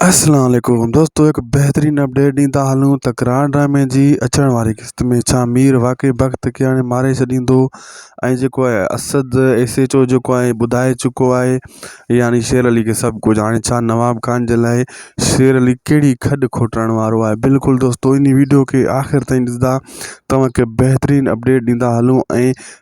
اسلام عليڪم دوستو هڪ بهترين اپڊيٽ ڏيندا هلون ته گرانڊ ڊرامي جي اچڻ واري قسط ۾ ڇا مير واقعي بخت کي هاڻي ماري ڇڏيندو ۽ جيڪو آهي اسد ايس ايچ او جيڪو آهي ٻڌائي چڪو آهي يعني شير علي کي سڀ ڪجهه هاڻي ڇا نواب خان جي لاء شير علي ڪهڙي کڏ کوٽڻ وارو آهي بلڪل دوستو ان ويڊيو کي آخر تائين ڏسندا توهان کي بهترين اپڊيٽ ڏيندا هلون ۽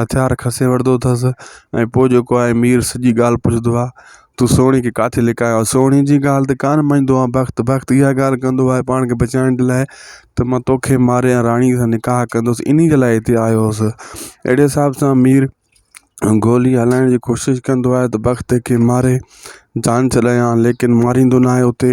هٿيار کسي وٺندو اٿس ۽ پوء جيڪو آهي مير سڄي ڳالهه پڇندو آهي تو سهڻي کي ڪاٿي لڪايو سهڻي جي ڳالهه ته ڪانه مڃيندو آهي بخت بخت اها ڳالهه ڪندو آهي پاڻ کي بچائڻ جي لاء ته مان توکي ماري ۽ راڻي سان نڪاح ڪندس انهي جي لاء هتي آيو هوسي اهڙي حساب سان مير گولي هلائڻ جي ڪوشش ڪندو آهي ته بخت کي ماري جان ڇڏايان ليڪن ماريندو ناهي اتي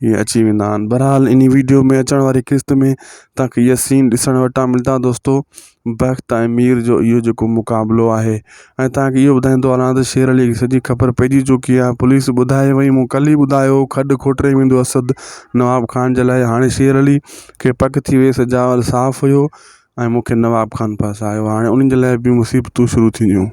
ائين اچي ويندا آهن بحرحال اني ويڊيو ۾ اچڻ واري قسط ۾ تاکي اهي سين ڏسڻ وٽان ملدا دوستو بخت ۽ مير جو اهو جيڪو مقابلو آهي ۽ تاکي اهو ٻڌائيندو هلان ته شير علي کي سڄي خبر پئجي چڪي آهي پوليس ٻڌائي وئي مون ڪل ئي ٻڌايو هو کڏ کوٽري ويندو اسد نواب خان جي لاء هاڻي شير علي کي پڪ ٿي ويس جاول صاف هيو ۽ مونکي نواب خان ڦاسايو هاڻي انهن جي لاء به مصيبتون شروع ٿينديون